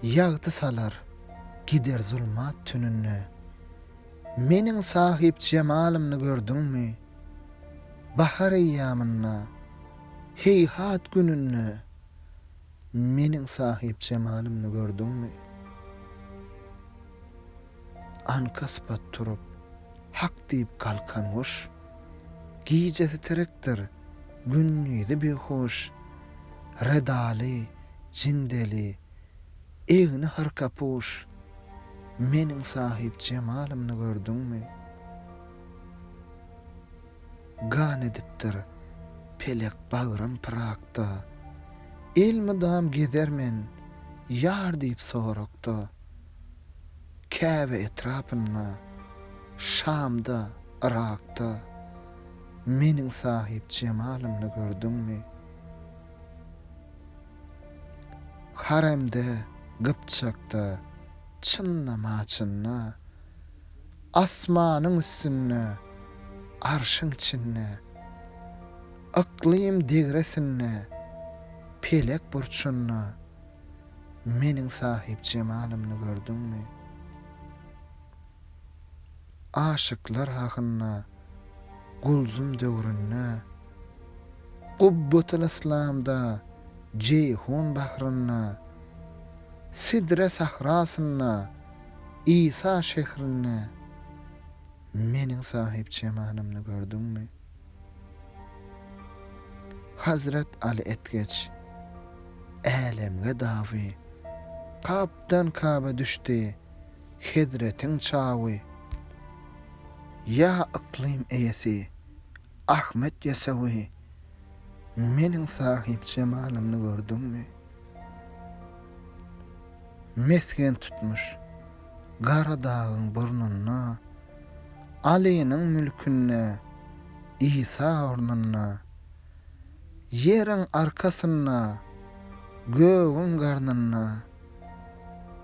Ýagty salar, gider zulmat tününde. Meniň sahyp jemalymny gördüňmi? Bahar eýýamynda, heýhat gününde. Meniň sahyp jemalymny gördüňmi? Aňkaspat turup, hak diýip galkan guş, Gijesi terekdir, gündizi bihuş. Redaly, jindeli, egni harkapuş, Meniň sahyp jemalymny gördüňmi? Gan edipdir pelek bagrym pyrakda, Elmydam gezermen ýar diýip sorakda. Käbe etrapynda, Şamda, Yrakda Meniň sahypjemalymny gördüňmi? Haremde, Gypjakda, Çynlamaçynda, Asmanyň üstünde, Arşyň içinde, Yklym degresinde, Pelek burçunda, Meniň sahyp jemalymny gördüňmi? Aşyklar hakynda Gulzum döwründe, Gubbatyl-yslamda, Jeýhun bahrynda, Sidre sahrasynda, Isa şährinde Meniň sahyp jemalymny gördüňmi? Hazret Aly etgeç, älemge dawy, Kapdan kaba düşdi hezretiň çawy. Ýa yklym eýesi, Ahmet Ýesewi, Meniň sahyp jemalymny gördüňmi? Mesgen tutmuş Gara dagyň burnunda. Alynyň mülkünde Isa ornunda, Ýeriň arkasynda, gögüň garnynda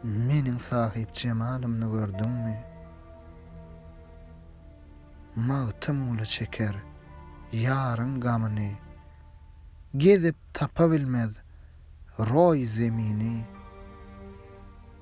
Meniň sahyp jemalymny gördüňmi? Magtymguly çeker ýaryň gamyny, Gezip tapa bilmez roý zemini.